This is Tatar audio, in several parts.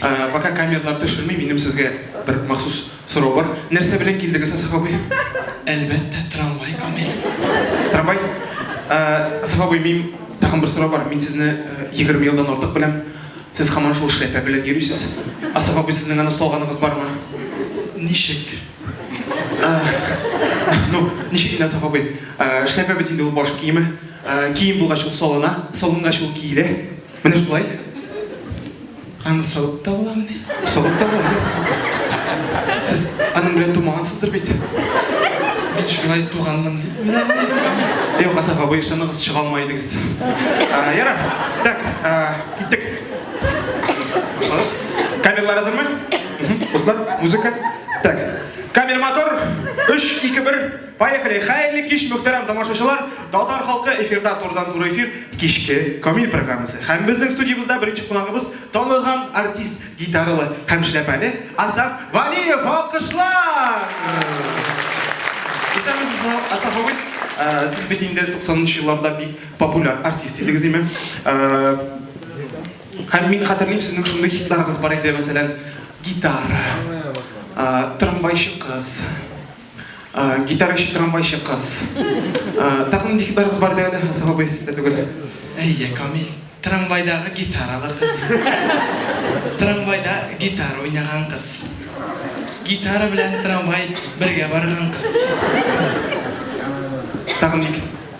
Пока камерлар төшерми, минем сезгә бер махсус сорау бар. Нәрсә белән килдегез, Асаф абый? Әлбәттә, трамвай, Камил. Трамвай? Асаф абый, мин тагын бер сорау бар. Мин сезне 20 елдан артык беләм. Сез хаман шул шляпа белән йөрисез. Асаф абый, сезнең аны салганыгыз бармы? Ничек? Ну, ничек инде, Асаф абый? Шляпа бит инде ул баш киеме. Кием булгач ул салына, салынгач ул киелә. Менә шулай. Һәм сылып та буламыни? Сылып та була. Сез аның белән тумагансыздыр бит. Мин шулай туганмын дип. Эй, Казах абый, ышаныгыз, чыга алмай идегез. Ярар. Так, киттек. Башладык. Камерлар әзерме? Кызлар, музыка. Так. Камер мотор. 3 2 1 Поехали! Хәерле кич, мөхтәрәм тамашачылар! Татар халкы эфирда турыдан-туры эфир кичке Камил программасы. Һәм безнең студиябездә беренче кунагыбыз танылган артист, гитаралы һәм шляпәле Асаф Валиев. Алкышлар! Исәнмесез, Асаф абый. Э, сез бит инде 90-нчы елларда бик популяр артист идегез, димме? Э, һәм мин хәтерлим, сезнең шундый хитларыгыз бар иде, мәсәлән, гитара, э, трамвайчы кыз, Гитара өчен трамвайчы кыз. Тагын нинди гитарагыз бар әле, Хасан абый, сездә түгел. Әйе, Камил, трамвайдагы гитаралы кыз. Трамвайда гитара уйнаган кыз. Гитара белән трамвай бергә барган кыз. Тагын ник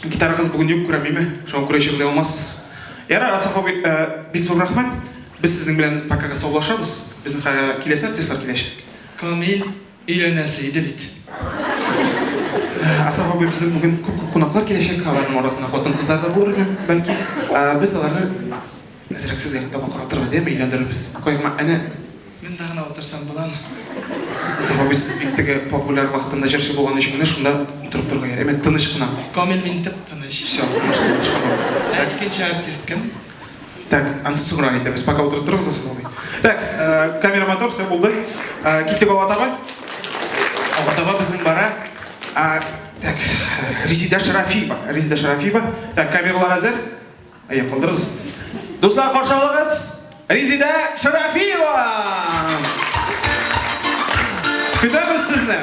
Гитарагыз бүген юк күрәм, име? Шуңа күрә җырлый алмассыз. Ярар, Асаф абый, бик зур рәхмәт. Без сезнең белән покага саулашабыз. Безнең киләсе артистлар киләчәк. Камил, өйләнәсе иде бит. Асаф абый, безнең бүген күп-күп кунаклар киләчәк. Аларның арасында хатын-кызлар да булыр, бәлки. Без аларны Әзрәк сез якта бу каратырбыз, яме өйләндерербез. Койма, әнә монда гына утырсам буламы? Исаф абый сез бик теге популяр вакытында җырчы булган өчен менә шунда утырып торырга ярый. Әмма тыныч кына. Камил мин тып тыныч. Все, башка башка булмый. Ә икенче артист кем? Так, ансы соңрак әйтәбез. Пока утырып торыгыз Исаф абый. Так, камера мотор, все булды. Киттек алга таба. Алга таба безнең бара. Так, Резеда Шарафиева. Резеда Шарафиева. Так, камералар әзер. Әйе, калдырыгыз. Дуслар, каршы алыгыз. Резидә Шарафиева! Көтәбез сезне!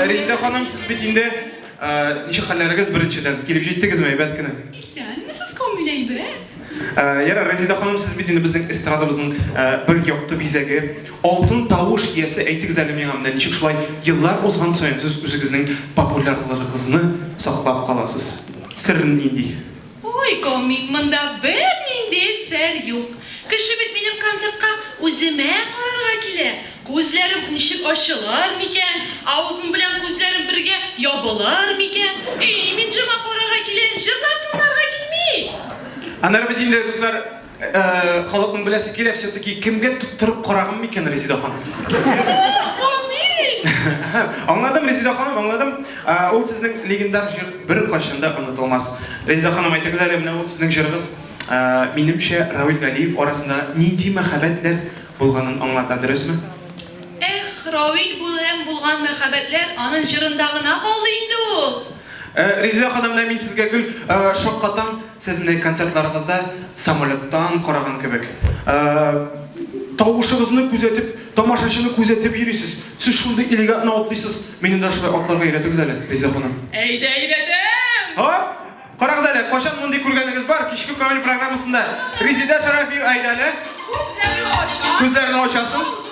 Резидә ханым, сез бит инде Ничек хәлләрегез беренчедән? Килеп җиттегезме, әйбәт кенә? Исәнмесез, Камил әйбәт. Ярар, Резида ханым, сез бит инде безнең эстрадабызның бер якты бизәге. Алтын тавыш иясе, әйтегез әле миңа менә ничек шулай еллар узган саен сез үзегезнең популярлыгыгызны саклап каласыз? Сере нинди? Ой, комик, монда бернинди сер юк. Кеше бит минем концертка үземә карарга килә. Күзләрем ничек ачылыр микән, авызым белән күзләрем бергә ябылыр микән? Әй, мин җырга карарга килә, җырлар тыңларга килми! Аннары без инде, дуслар. Халыкның беләсе килә, все-таки кемгә тоттырып карагым микән Резида ханым? Аңладым, Резида ханым, аңладым. Ул сезнең легендар җыр бер кайчанда онытылмас. Резида ханым, әйтегез әле, менә ул сезнең җырыгыз, минемчә, Равил Галиев арасында нинди мәхәббәтләр булганын аңлата, дөресме? Эх, Равил белән булган мәхәббәтләр аның җырында гына калды инде ул. Ризилә ханым, менә мин сезгә гел шаккатам, сез менә концертларыгызда самолеттан караган кебек. Тавышыгызны күзәтеп, тамашачыны күзәтеп йөрисез. Сез шундый элегантно атлыйсыз. Мине дә шулай атларга өйрәтегез әле, Ризилә ханым. Әйдә, өйрәтәм! Һоп! Карагыз әле, кайчан мондый күргәнегез бар, кичке Камил программасында Резидә Шәрәфи әйдә әле. Күзләрен ача. Күзләрен ачасын.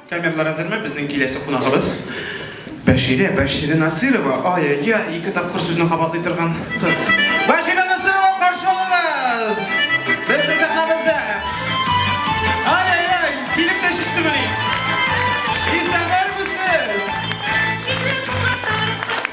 Камерлар әзерме? Безнең киләсе кунагыбыз Бәширә, Бәширә Насирова. Ай-ай-ай, ике тапкыр сүзне кабатлый торган кыз. Бәширә Насирова каршы алыгыз! Безнең сәхнәбездә. Ай-ай-ай, килеп тә чыкты мени. Исәннәрме сез?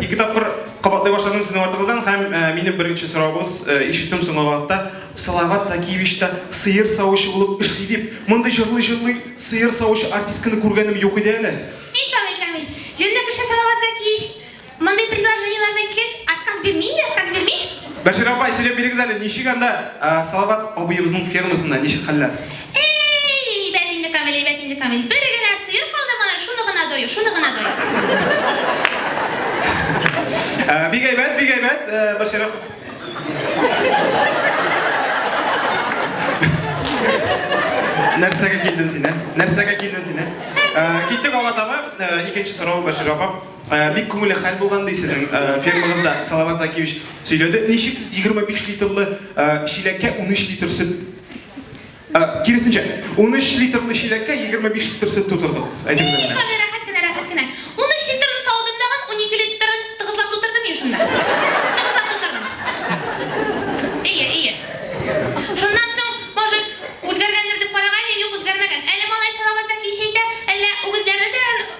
Ике тапкыр кабатлый башладым сезнең артыгыздан һәм минем беренче сорауыбыз, ишеттем соңгы вакытта Салават Закиевич та сыер савучы булып эшли дип. Мондый җырлый-җырлый сыер савучы артистканы күргәнем юк иде әле. Бик камил, камил. Җүнле кеше Салават Закиевич. Мондый предложениеләр белән килгәч, отказ бирми инде, отказ бирми. Бәшир апа, сөйләп бирегез әле, ничек анда Салават абыебызның фермасында, ничек хәлләр? Әй, әйбәт инде, Камил, әйбәт инде, Камил. Бер генә сыер калды малай, шуны гына дою, шуны гына дою. Ә, Бик әйбәт, бик әйбәт, ә, Баширов. Нәрсәгә килдең син, ә? Нәрсәгә килдең син, ә? Ә, Киттек алга таба. Ә, Икенче сорау Башир апа. Ә, Бик күңелле хәл булган ди сезнең ә, фермагызда Салават Закиевич сөйләде. Ничек сез 25 литрлы ә, чиләккә 13 литр сөт Ә, киресенчә, 13 литрлы чиләккә 25 литр сөт тутырдыгыз. Әйтегез әле. Тукта, мин рәхәт кенә, рәхәт кенә. 13 литрны савдым дагын, 12 литрын тыгызлап тутырдым мин шунда. Тыгызлап тутырдым. Ие, ие. Шуннан соң, может, үзгәргәндер дип караган идем, юк, үзгәрмәгән. Әле малай салават зәки чәйтә, әллә үгезләрне дә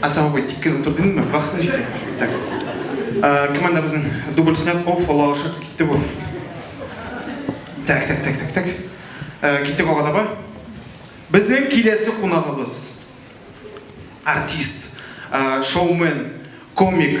Ә сау бул, дип кенә утыр димме? Вахтың җитә. Так. Командабызның дубль снят. Оф, Алла ашык, китте бу. Так, так, так, так, так. Киттек алга таба. Безнең киләсе кунагыбыз. Артист, шоумен, комик.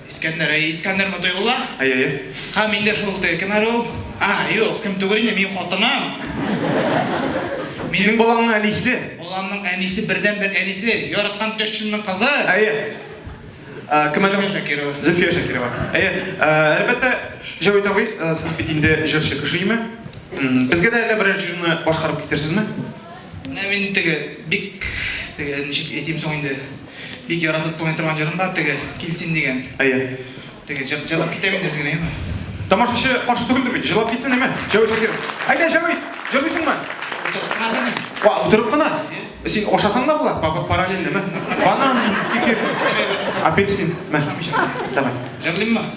Искәндәр, әйе, Искәндәр Мотыйгулла? Әйе, әйе. Һәм мин дә шул теге, кем әле ул? А, юк, кем түгел инде, минем хатыным. Синең балаңның әнисе. Баламның әнисе, бердәнбер әнисе, яраткан тещамның кызы. Әйе. Ә, Кем әле? Зөлфия Шакирова. Зөлфия Шакирова. Әйе, ә, әлбәттә, Җәвит абый, ә, сез бит инде җырчы кеше, име? М, Безгә дә әллә берәр җырны башкарып китерсезме? Менә мин теге бик теге ничек әйтим соң инде? Бик яратып тыңлый торган җырым бар, теге Килсин дигән. Әйе. Теге җыр җырлап китә бит әзгенә, яме. Тамашачы каршы түгелдер бит, җырлап китсен, яме. Җәү Шакир. Әйдә, Җәү, җырлыйсыңмы? Утырып кына җырлыйм. Ва, утырып кына? Син ашасаң да була, бабы параллельныйме? Банан, кефир, апельсин, мә. Давай. Җырлыйммы?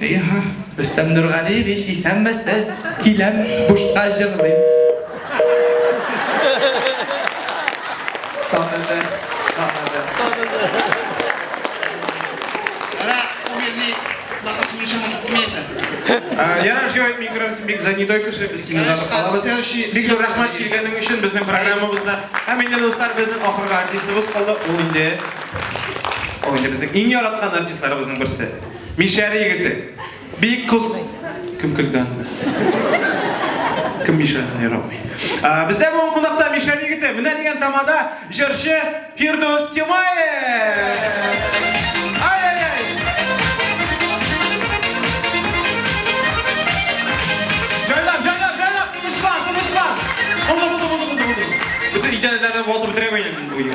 Эйаһа! Рөстәм Нургалиевич, исәнмесез! Киләм, бушка җырлыйм. Таныды, таныды. Ара, умерли, бахат сумешем отмеса. Яра, шуй әйтми күрәм, син бик занятой кеше, без сине занып калабыз. Бик зур рәхмәт килгәнең өчен безнең программабызда. Һәм инде, дуслар, безнең ахыргы артистыбыз калды, ул инде Ул инде безнең иң яраткан артистларыбызның берсе. Мишәр егете. Бик кыз... Кем көлде анда? Кем Мишәрне ярамый? Бездә бүгін кунакта Мишәр егете. Менә дигән тамада җырчы Фирдус Тимаев. Идеальная работа требований будет.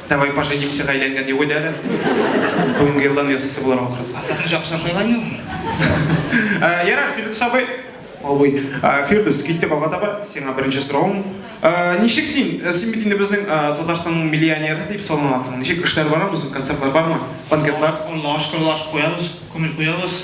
Давай поженимся гаиләңдә дип уйла әле. Бүгенге елдан ясысы булырга кырыс. Азак җак шашайламы ул? Э, Ярар, Фирдус абый. Абый. Э, Фирдус, киттек алга таба. Сиңа беренче соравым. Э, ничек син? Э, син бит инде безнең Татарстанның миллионеры дип саналасың. Ничек эшләр барамы? Концертлар бармы? Банкетлар? Аллаһ шөкер, Аллаһ шөкер, куябыз, күңел куябыз.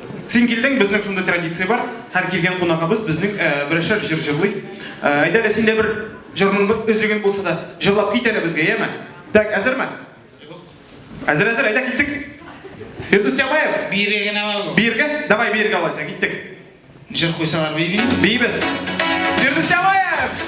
Син килдең, безнең шундый традиция бар. Һәр килгән кунагыбыз безнең берәшәр җыр җырлый. Әйдә әле син дә бер җырның бер өзеген булса да җырлап кит әле безгә, яме? Так, әзерме? Әзер, әзер, әйдә киттек. Фирдүс Тямаев. Биергә генә бар. Биергә? Давай биергә алайса, киттек. Җыр куйсалар биймим. Бийбез. Фирдүс Тямаев!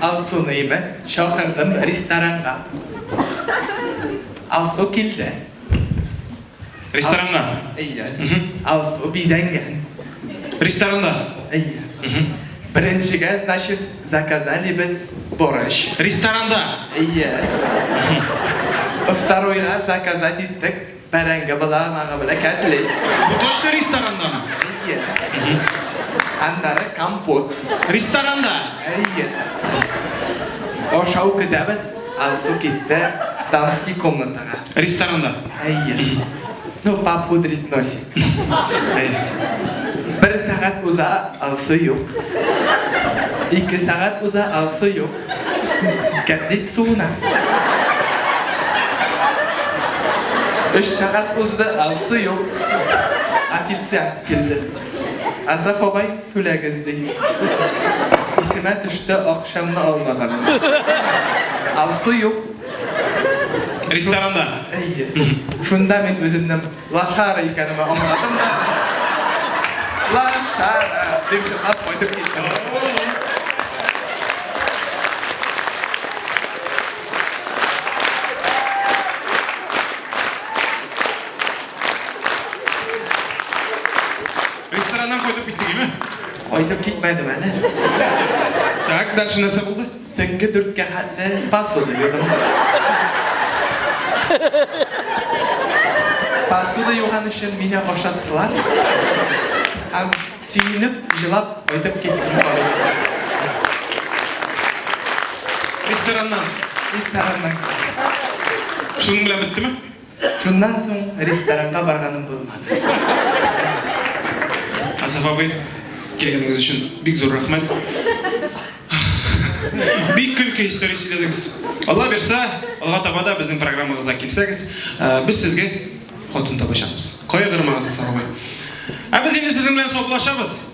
Алсуны мә чакырдым ресторанга. Алсу килде. Ресторанга? Әйе. Алсу бизәнгән. Ресторанда? Әйе. Беренчегә, значит, заказали без борыч. Ресторанда? Әйе. Второйга заказать иттек. Бәрәңге быдаганагы белән кәтлит. Бу точно ресторанданмы? Әйе. Аннары компот. Ресторанда? Әйе. Ашау көтәбез, Алсу китте дамский комнатага. Ресторанда? Әйе. Ну, попудрить носик. Бер сәгать уза, Алсу юк. Ике сәгать уза, Алсу юк. Гәп бит суына. Өч сәгать узды, ә су юк. Официант килде. Асаф абай, түләгез, ди. Исемә төште, акчамны алмаган. Ә су юк. Ресторанда. Әйе. Шунда мин үземнең Лошары икәнемә аңладым да. Лошары! Дип чыгып кайтып киттем. Рестораннан кайтып киттегеме? Кайтып китмәдем әле. Так, дальше нәрсә булды? Төнге дүрткә хәтле посуда юдым. Посуда юган өчен мине ашаттылар. Һәм сөенеп, җылап кайтып киттем. Рестораннан. Рестораннан. Шуның белән беттеме? Шуннан соң ресторанга барганым булмады. Асаф абый, килгәнегез өчен бик зур рәхмәт. Бик көлке история сөйләдегез. Алла бирса, алга таба да безнең программагызга килсәгез, без сезгә хатын табачакбыз. Кайгырмагыз, Асаф абый. Ә без инде сезнең белән саубуллашабыз.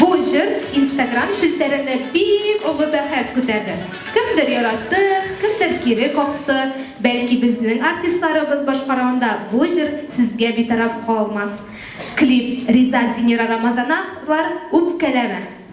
Бу җыр Instagram челтәрендә бик олы бәхәс күтәрде. Кемдер яратты, кемдер кире какты. Бәлки безнең артистларыбыз башкаруында бу җыр сезгә битараф калмас. Клип Риза Синера Рамазановлар үпкәләмә.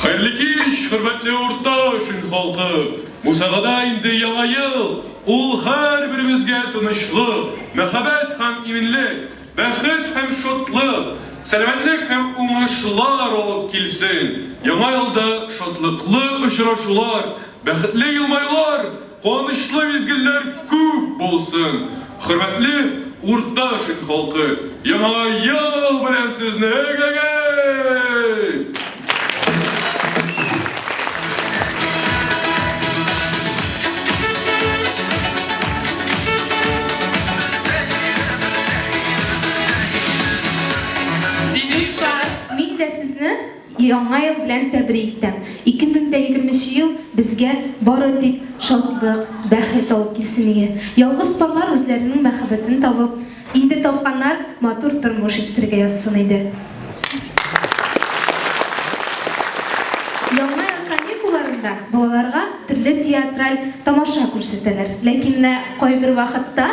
Хәерле кич, хөрмәтле урташ ил халкы! Мусагада инде яңа ел! Ул һәрберебезгә тынычлык, мәхәббәт һәм иминлек, бәхет һәм шатлык, сәламәтлек һәм уңышлар алып килсен! Яңа елда шатлыклы очрашулар, бәхетле елмаюлар! Канычлы мизгелләр күп булсын! Хөрмәтле Урта Шин халкы, Яңа ел белән сезне! Эгегей! Яңа ел белән тәбрик итәм! 2020 нче ел безгә бары тик шатлык, бәхет алып килсен иде. Ялгыз парлар үзләренең мәхәббәтен табып, инде тапканнар, матур тормыш иттерергә язсын иде. Яңа ел каникулларында балаларга төрле театраль тамаша күрсәтәләр. Ләкин менә кайбер вакытта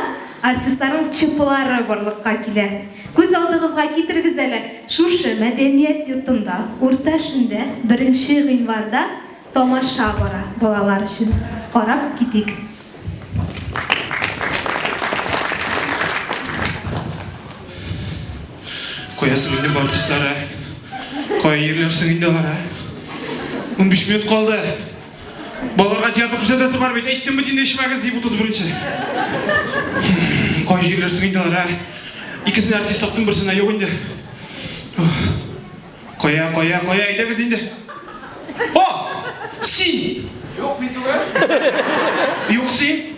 артистларның ЧПлары барлыкка килә. Күз алдыгызга китерегез әле. Шушы мәдәният йортында урта шимдә беренче гыйнварда тамаша бара, балалар өчен карап китик. Кая соң инде бу артистлар, ә? Кая йөрләр соң инде алар, ә? Унбиш минут калды! Балаларга театр күрсәтәсе бар бит, әйттем бит инде эчмәгез дип 31-нче. Кай җирләр соң инде алар, ә? Икесен артист таптым, берсенә юк инде. Кая, кая, кая, әйдәгез инде. О! Син! Юк, мин түгел. Юк, син.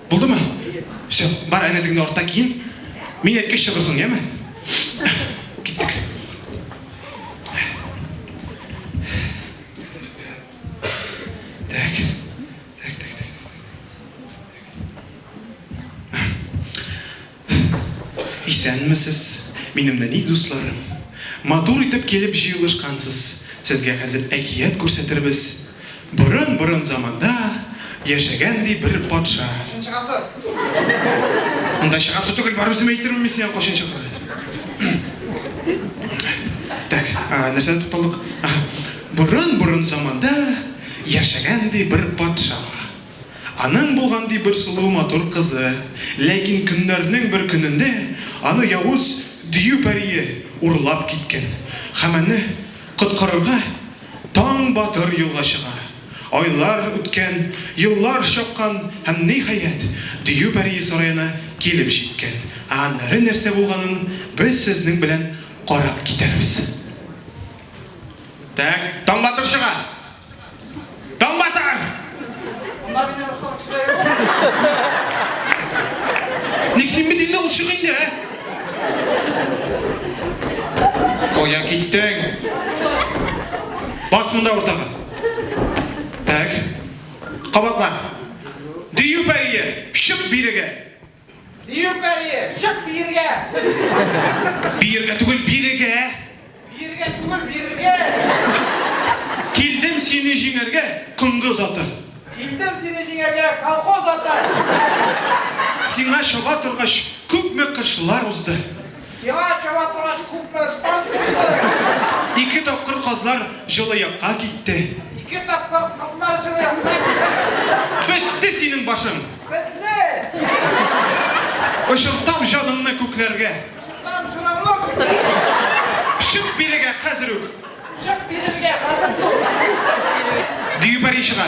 Булдымы? Все, бар әнәдегеңне артта киен. Мин әйткәч чыгырсың, яме? Киттек. Так. Исәнмесез, минем нәни дусларым! Матур итеп килеп җыелышкансыз. Сезгә хәзер әкият күрсәтербез. Борын-борын заманда яшәгән, ди, бер патша. Кайчынчы гасыр? Анда чыгасы түгел, бар үзем әйтермен мин сиңа кайчан чыгарга. Так, нәрсәдә тукталдык? Аһа. Борын-борын заманда яшәгән, ди, бер патша. Аның булган ди бер сылу матур кызы, ләкин көннәрнең бер көнендә аны явыз дию пәрие урлап киткән һәм аны коткарырга Таң батыр юлга чыга. Айлар үткән, еллар чапкан һәм, ниһаять, дию пәрие сараена килеп җиткән. Ә аннары нәрсә булганын без сезнең белән карап китәрбез. Тәк, Таң батыр чыга! Таң батар! Анда мине башка кешеләр юк. Ник син бит инде ул чык инде, ә? Кая киттең? Бас монда уртага. Так. Кабатла. Дию пәрие, чык бирегә. Бию пәрие, чык биергә! Биергә түгел, бирегә! Биергә түгел, бирегә! Килдем сине җиңәргә, кондыз аты! Килдем сине җиңәргә, колхоз аты! Сиңа чаба торгач, күпме кышлар узды. Сиңа чаба торгач күпме ыштан килде? Ике тапкыр кызлар җылы якка китте. Ике тапкыр кызлар җылы якка китте. Бетте синең башың. Бетте! Очыртам җаныңны күкләргә. Очыртам җаныңны күкләргә. Чык бирегә хәзер үк. Чык бирегә хәзер үк. Дию пәри чыга.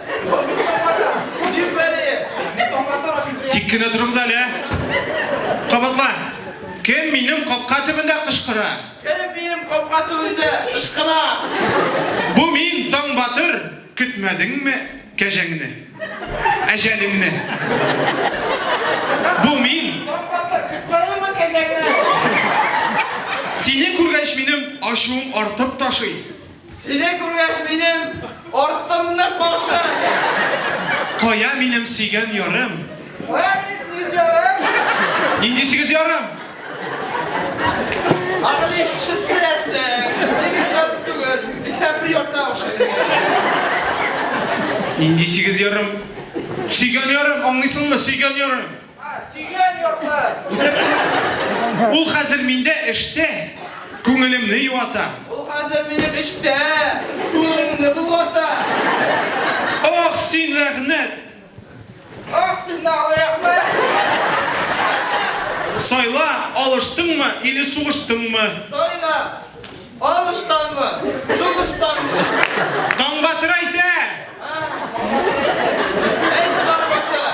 Тик кенә торыгыз әле. Кабатла. Кем минем капка төбендә кычкыра? Кем минем капка төбендә кычкыра? Бу мин, Таң батыр. Көтмәдеңме кәҗәңне? Әҗәлеңне. Бу мин. Таң батыр, көтмәдеңме кәҗәңне? Сине күргәч минем ачуым артып ташый. Сине күргәч минем артымны кашы. Кая минем сөйгән ярым? Кая минем сигез ярым? Нинди сигез ярым? Агыли шыттырәсең. Сигез ярым түгел. Исә бер ярта охшый. Нинди сигез ярым? Сөйгән ярым, аңлыйсыңмы, сөйгән ярым. Сөйгән йортым! Ул хәзер миндә эштә, күңелемне юата. Ул хәзер минем эштә, күңелемне болгата. Ох, син рәгънәт! Ох, син дагы рәхмәт! Сайла, алыштыңмы или сугыштыңмы? Сайла! Алыштанмы? Сугыштанмы? Таңбатыр әйтә! Әйт, Таңбатыр!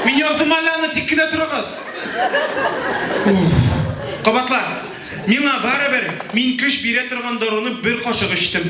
Мин яздым әле аны, тик кенә торыгыз. Кабатлар, миңа барыбер, мин көч бирә торган даруны бер кашык эчтем.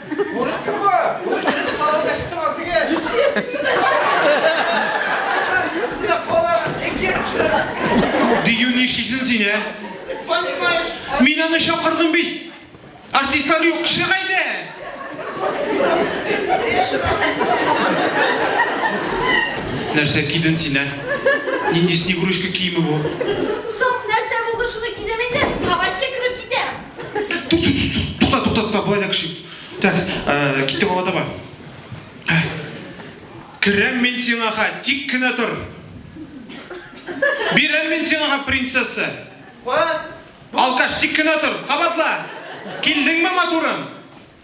Дию нишисен син, ә? Понимаешь? Мин аны чакырдым бит. Артистлар юк кеше кайда? Нәрсә киден син, ә? Нинди снегурочка киеме бу? Тукта, тукта, тукта, былай да кеше. Так, э, китте бала таба. Э, Керәм мин сиңа ха, тик кенә тор. Бирәм мин сиңа ха, принцесса. Алкаш, тик кенә тор, кабатла. Килдеңме, матурым?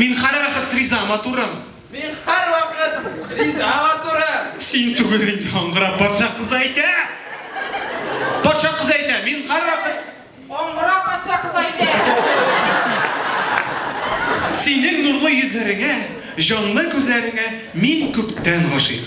Мин һәрвакыт ризама торам. Мин һәрвакыт ризама торам. Син түгел инде аңгырап патша кызы әйтә. Патша кызы әйтә, мин һәрвакыт Аңгыра патша кызы әйтә. Синең нурлы йөзләреңә, җанлы күзләреңә мин күптән гашыйк.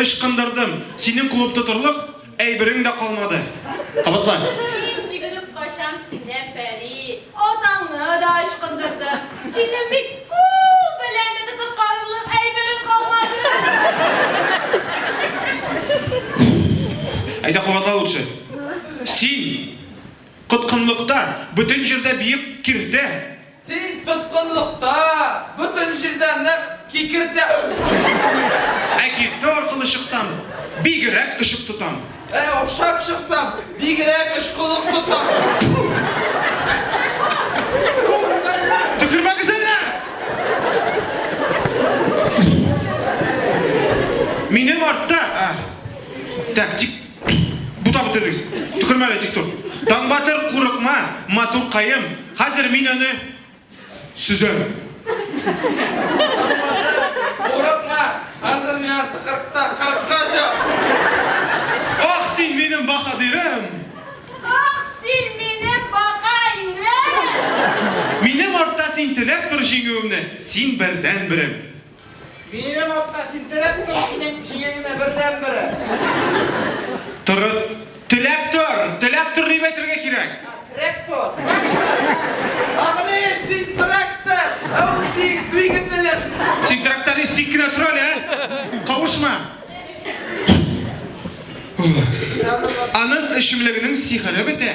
Ычкындырдым. Синең куып тотырлык әйберең дә калмады. Кабатла. Мин йөгереп качам синнән, пәри. Атаңны да ычкындырдым. Синең бит кул белән дә тотыткарлык әйберең калмады. Әйдә, кабатла лучше. Син коткынлыкта бөтен җирдә биек киртә. Син тоткынлыкта, бөтен җирдә нәкъ кикердә. Ә киртә аркылы чыксам, бигерәк очып тотам. Ә охшап чыксам, бигерәк очкылык тотам. Төкермәгез әллә! Минем артта, а, тәк, тик. Бутап бетердегез. Төкермә әле тик тор. Таңбатыр, курыкма, матуркаем, хәзер мин аны сөзәм. Таңбатыр, курыкма, хәзер мин аны кырыкта, кырыкта өзәм. Ах, син минем баһадирем! Ах, син минем баһаирем! Минем артта син теләп тор җиңүемне, син бердән-берем. Минем атка син терәп тор, синең җиңеңне бердән бере. Тор, теләп тор, теләп тор дип әйтергә кирәк. Терәп тор. Агылыш син трактор, ә ул син двигателем. Син тракторист тик кенә тор әле, ә? Кавышма. Аның эчемлегенең сихере бетә.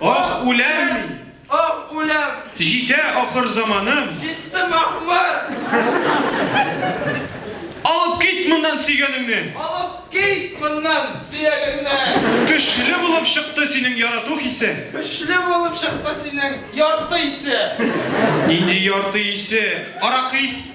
Ах, үләм мин! Ах, үләм! Җитә ахыр заманым! Җитте махмыр! Алып кит моннан сөйгәнеңне! Алып кит моннан сөйгәнеңне! Көчле булып чыкты синең ярату хисе! Көчле булып чыкты синең ярты исе! Нинди ярты исе? Аракы исе!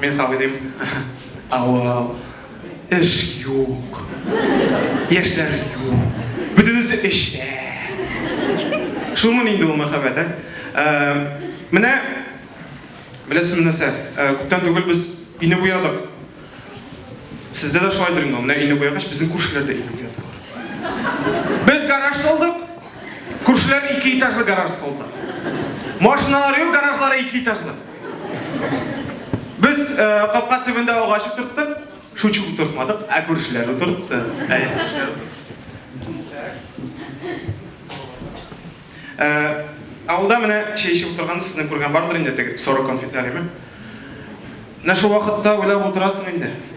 Мин кабый дим. Авыл. Эш юк. Яшьләр юк. Бөтенесе эчә. Шулмыни инде ул мәхәббәт, ә? Менә, беләсезме нәрсә, күптән түгел без өйне буядык. Сездә дә шулайдыр инде ул. Менә өйне буягач, безнең күршеләр дә өйне буядылар. Без гараж салдык, күршеләр ике этажлы гараж салды. Машиналары юк, гаражлары ике этажлы. Без э, капка төбендә агач утырттык, шучу утыртмадык, ә күршеләр утыртты. Ә, авылда менә чәй эчеп утырган сезне күргән бардыр инде теге соры конфетләреме? Менә шул вакытта уйлап утырасың инде.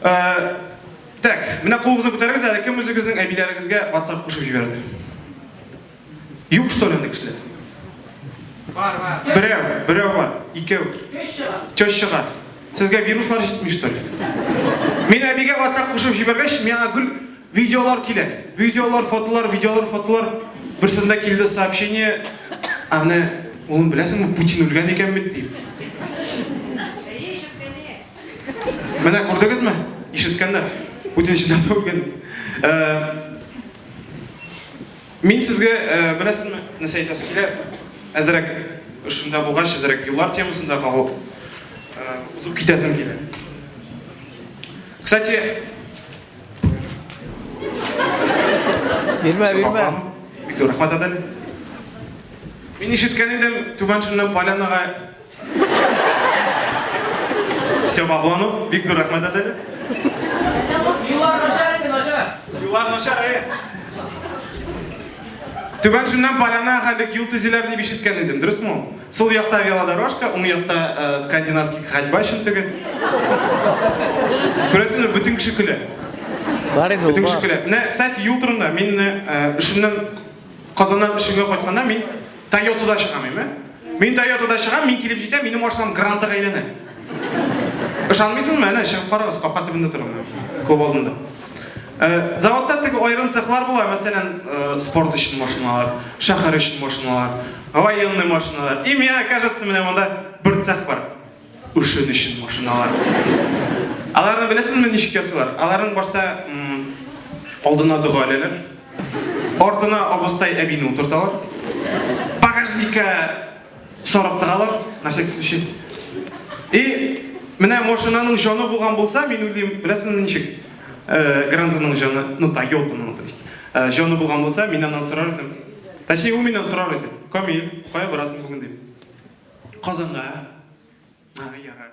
Э, так, менә кулыгызны күтәрегез әле, кем үзегезнең әбиләрегезгә WhatsApp кушып җибәрде? Юк, что ли, кешеләр? Бар, бар. Берәү, берәү бар, икәү. Төш чыга. Сезгә вируслар җитми, что ли? Мин әбигә WhatsApp кушып җибәргәч, миңа гүл видеолар килә. Видеолар, фотолар, видеолар, фотолар. Берсендә килде сообщение. Аны, улым, беләсеңме, Путин үлгән икән бит дип. Менә күрдегезме? Ишеткәннәр. Путин чыннан да үлгән. Мин сезгә беләсезме, нәрсә әйтәсе килә? Әзрәк шунда булгач, әзрәк юллар темасында кагыл узып китәсем килә. Кстати, Бирмә, бирмә. Бик зур рәхмәт, Адель. Мин ишеткән идем, Түбән Шуннан Полянага Все по плану. Бик зур рәхмәт әтәле. Юллар начар инде, начар. Юллар начар, э. Түбән шуннан поляна хәлек юл төзиләр дип ишеткән идем, дөресме? Сул якта велодорожка, уң якта э, скандинавский ходьба өчен түгел. Күрәсезме, бөтен кеше көлә. Бары Бөтен кеше көлә. Менә, кстати, юл турында мин э, эшемнән Казаннан эшемгә кайтканда мин Тойотада чыгам, әйме? Мин Тойотада чыгам, мин килеп җитәм, минем машинам Грантага әйләнә. Ышанмыйсыңмы? Әнә чыгып карагыз, капка төбендә торам мин, клуб алдында. Э, заводта теге аерым цехлар була, мәсәлән, э, спорт өчен машиналар, шәһәр өчен машиналар, военный машиналар. И меня, кажется, менә монда бер цех бар. Өчен өчен машиналар. Аларны беләсезме ничек ясыйлар? Аларның башта алдына дога әләләр. Артына абыстай әбине утырталар. Багажникка сарык тыгалар, на всякий случай. И менә машинаның җаны булган булса, мин уйлыйм, беләсезме ничек? Э, Грантының җаны, ну, Тойотаның, то есть, э, җаны булган булса, мин аннан сорар идем. Әче, ул миннән сорар иде. Камил, кая барасың бүген дип. Казанга. А, ярар.